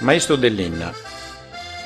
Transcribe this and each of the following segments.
Maistu de linna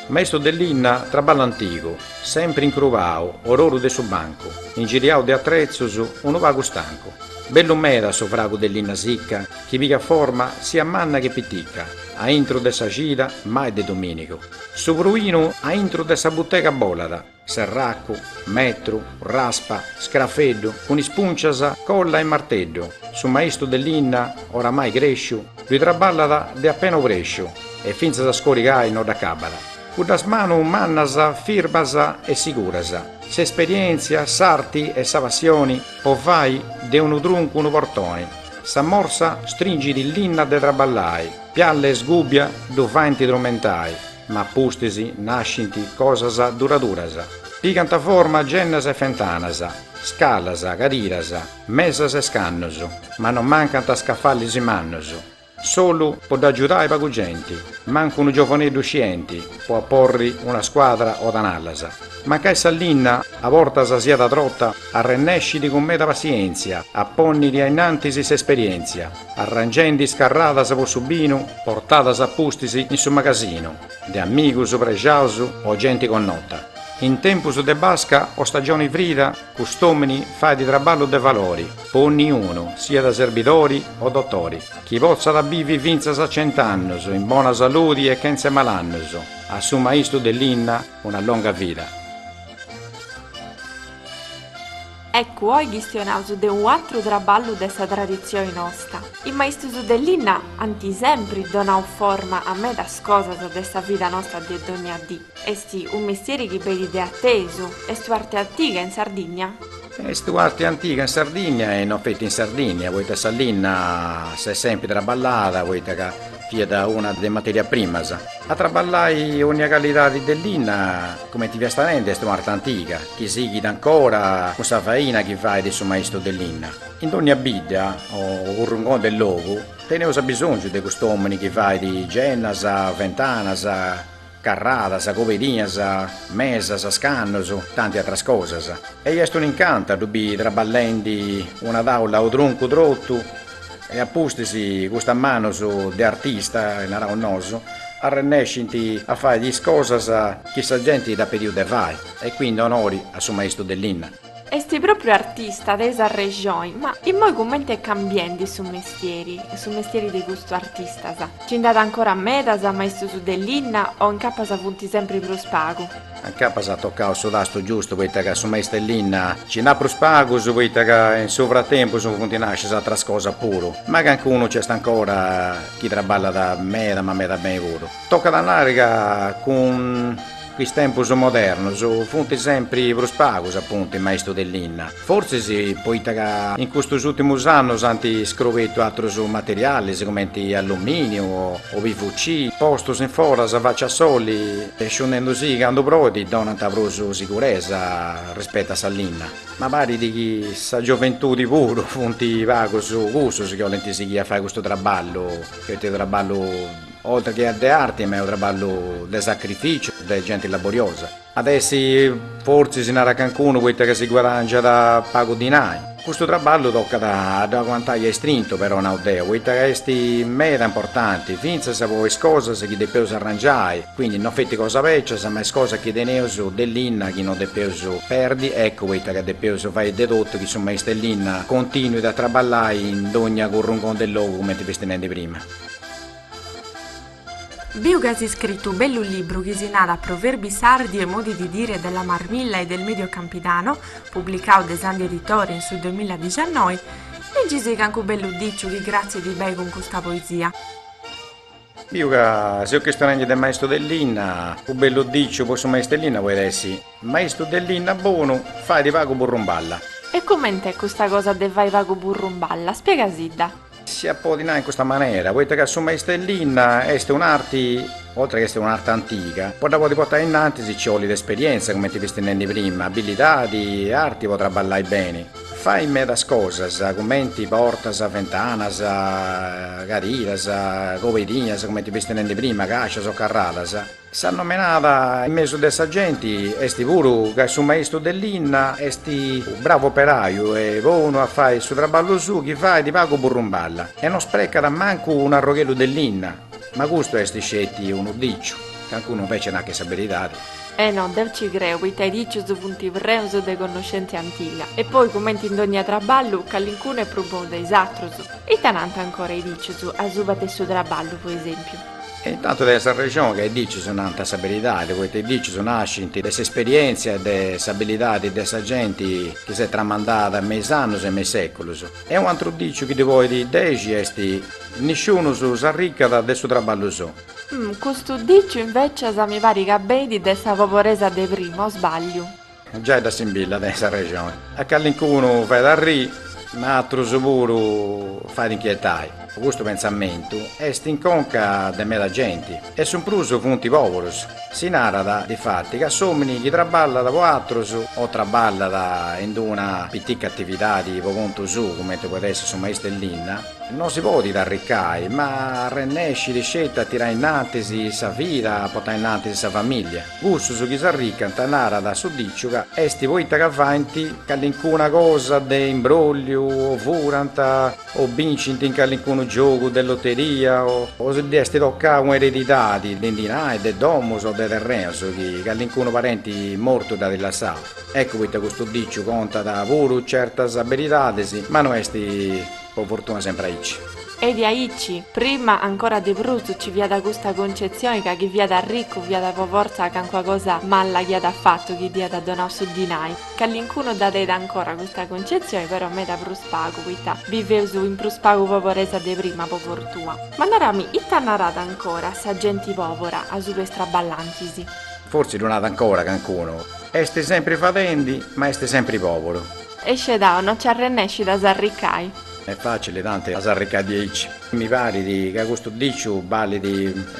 Maistu de linna, traballu antigu, sempri incrubau, ororu de su bancu, ingiriau de atretzus, unu pagu stancu. Bellu meda su fragu de linna sicca chi pigat forma sia manna che piticca aintru de sa cida mai de dominigu. Su pruinu aintru de sa butega bolat. Serracu, metru, raspa, scrafeddu, cun is puncias, colla e marteddu, su maistu de linna, oramai cresciu, ddui traballat de apena obresciu e fintzas a scorigai no dd'acabat. Cuddas manus mannas, firmas e siguras, s'esperièntzia, s'arti e sa passioni po fai de unu truncu unu portoni, sa morsa stringit linna de traballai, pialla e sgùbia ddu faint trumentai, Ma pustis nascint cosas duraduras. Pigant forma gennas e fentanas, scalas, cadiras, mesas e scannus, ma non mancant scafalis mannus. Solu po dd'agiudai pagu genti, mancu unu giovaneddu scienti po aporri una scuadra o tanallas. Mancai sa linna a bortas siat trota, arrennescit cun meda passientzia a ponniri ainnantis s'esperientzia. Arrangendi is carradas po su binu portadas a pustis in su magasinu de amigus prexaus o genti connota. In tempus de basca o stagioni frida cust'omini fait traballus de valori po onniunu, siat serbidori o dotori, chi potzat bivi fintzas a cent'annus in bona saludi e chentze malannus, a su maistu de linna una longa vida. Eccu oi chistionaus de unu atru traballu de sa traditzioi nosta. Is maistus de linna ant sempri donau forma a medas cosas de sa vida nosta de dogna dì. Est unu mestieri chi benit de atesu. Est u'arte antiga in Sardigna? Est u'arte antiga in Sardigna e non feti in Sardigna, poita sa linna s'est sempri traballada, poita ca fiat una de is materias primas. A traballai onnia callidadi de linna. Cumenti fiasta nendi est un'arte antiga chi sighit ancora cun sa faina chi fait su maistu de linna. In dònnia bidda o currungoni de logu teneus abisòngiu de cust'òmini chi fait gennas, ventanas, carradas, cobedinas, mesas, scannus, tanti atras cosas. E est un'incantu a ddu biri traballendi una tàula o truncu trotu E a pustis custas manus de artista, naraus nosu, arrennescint a fai is cosas chi sa genti dd'at pediu de fai, e quindi onori a su maistu de linna. Est pròpriu artista, tenis arrexoi, ma immoi cumenti est cambiendi su mestieri, su mestieri de custus artistas? Nci nd'at ancora medas maistus de linna o incapas funt sempri prus pagu? A incapas at tocau su tastu giustu poita ca su maistellinna nci nd'at prus pagus poita ca in su fratempus funt nascias atras cosas puru, ma cancunu nci est ancora chi traballat meda ma meda beni puru. Tocat a nai ca cun is tempus modernus funt sempri prus pagus apuntu is maistus de linna. Fortzis poita ca in custus ùrtimus annus ant scrobetu atrus materialis cumenti allumìniu o PVC, postus in foras a faci a soli e sciunendu si candu proit donant prus siguresa rispetu a sa linna. Ma parit chi sa gioventudi puru funt pagus cussus chi 'olint sighi a fai custu traballu, poita est unu traballu oltre che de arti ma est unu traballu de sacrificiu, de genti laboriosa. At a essi fortzis, narat cancunu, poita ca si guadangiat pagu dinai. Custu traballu tocat a ddu aguantai a istrintu però, nau deu, poita ca est meda importanti, fintzas po is cosas chi depeus arrangiai, quindi no feti cosas bècias, ma is cosas chi teneus de linna chi no depeus perdi, eccu poita ca depeus fai de totu chi su maistellinna continuit a traballai in dogna currungoni de logu, cumenti fisti nendi prima. Biu chi as iscritu u bellu libru chi si nada Proverbi sardi e modi di dire della Marmilla e del Medio Campidano, publicau de Sandi Editore in su duemilladiciannoi, Legisi cancu bellu diciu chi 'atzicat bei cun custa poesia. Biu ca seus chistionendi de maistu de linna, u bellu diciu po su maistu 'e linna podit essi, Maistu de linna bonu, faidi pagu burrumballa. E coment'è custa cosa de fai pagu burrumballa? Spiegasidda. Si at a podi nai in custa manera, poita ca su maistellinna est un'arti, oltre chi est un'arti antiga, po dda podi portai innantis ci olit esperienza, cumenti fisti nendi prima, abbilidadi e arti po traballai beni. Fai medas cosas, cumenti portas, ventanas, cadiras, cobedinas, cumenti fisti nendi prima, cascias o carradas. S'annomenada in mesu de sa genti est puru ca su maistu de linna est bravu operaju e bonu a fai su traballu suu chi fait pagu burrumballa e no sprecat mancu unu arrogheddu de linna, ma custu est sceti unu diciu, cancunu invece narat ca est sa beridadi. E no, deu ci creu poita i dicius funt preus de connoscentzia antiga e poi cumenti in dogna traballu calincunu est prus bonu de is atrus. Ita nant ancora i dicius asuba de su traballu po esempiu? E in tantu tenis arrexoni ca i dicius nant sa beridadi, poita i dicius nascint de s'esperièntzia e de s'abilidadi de sa genti chi s'est tramandada me is annus e me is sèculus. E u' antru diciu chi ddi podit dexi est, Nisciunus s'arricat de su traballu suu. Custu diciu invecias mi parit ca benit de sa poboresa de primu, o sbagliu? Giai dda simbillat de nai sa rexoni. A calincunu fait arrii, ma atrus puru fait inchietai. Custu pensamentu est in conca de meda genti, e su prus funt poburus. Si narat, difati, ca s'omini chi traballat po atrus, o traballat in d'una pitica atividadi po contu suu, cumenti podit essi su maistu 'e linna, no si podit arricai, ma arrennescit sceti a tirai innantis sa vida, a potai innantis sa familia. Cussus chi s'arricant, narat su diciu, ca est poita ca faint callincuna cosa de imbrolliu o furant o bincint in callincunu giogu de loteria o, o si dd'est tocau una eredidadi de dinai, de domus o de terreus chi callincunu parenti mortu dd'at lassau. Eccu poita custu diciu contat puru certas beridadis, ma no est. Po fortuna sempre aici. Est aici, prima ancora de prus nci fiat custa concezioni ca chi fiat arricu fiat po fortza cancua cosa malla chi at fattu chi dd'iat donau su dinai. Callincunu dda tenit ancora custa concezioni però meda prus pagu poita biveus in prus pagu poboresa de prima po fortua. Ma narami, ita narat ancora sa genti pobora asuba 'e is traballantis? Fortzi ddu narat ancora cancunu. Est sempre fadendi ma est sempre poboru. E scedau no nci arrennescit a s'arricai. Est facili tanti a s'arricai diaici. Mi parit ca custu diciu balit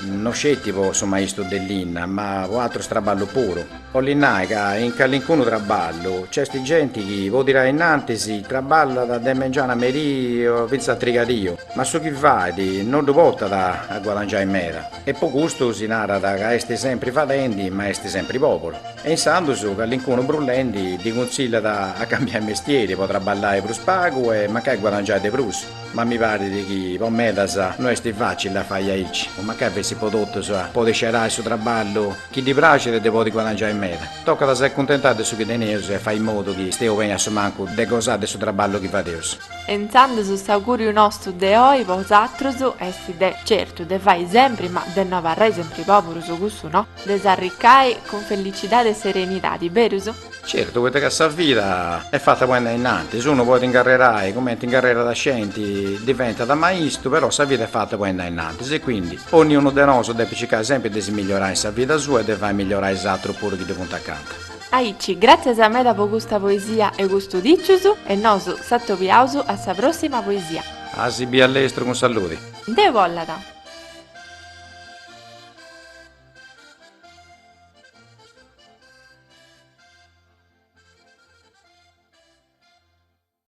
no sceti po su maistu de linna, ma po atrus traballus puru. Bolit nai ca in calincunu traballu nc'est genti chi po tirai innantis traballat de mengianu a merii o fintzas a trigadìu, ma su chi fait no ddu portat a guadangiai meda. E po custu si narat ca est sempri fadendi ma est sempri pòburu. E insandus callincunu brullendi ddi cunsillat a cambiai mestieri po traballai prus pagu e mancai guadangiai de prus. Ma mi parit chi po medas no est facili a fai aici, o mancai fessit po totus, de podi scerai su traballu chi ddi praxit e de podi guadangiai meda. Tocat a s'acuntentai de su chi teneus e fai in modu chi steus beni a su mancu de gosai de su traballu chi fadeus. E intzandus s'augùriu nostu de oi po bosatrus est de, certu, de fai sempri, ma de no abarrai sempri pòburus, cussu no, de s'arricai cun fellicidadi e serenidadi, berus? Certu, poita ca sa vida est fata po andai innantis, unu podit incarrerai cumenti incarrerat a scienti, diventat maistu, però sa vida est fata po andai innantis e quindi onniunu de nosu depit circai sempri de si migliorai in sa vida sua e de fai migliorai is atrus puru chi ddi funt acanta. Aici, gràtzias meda po custa poesia e custus dìcius e nosu s'atobiaus a sa pròssima poesia. A si bi a lestru cun salludi. Deu bollat.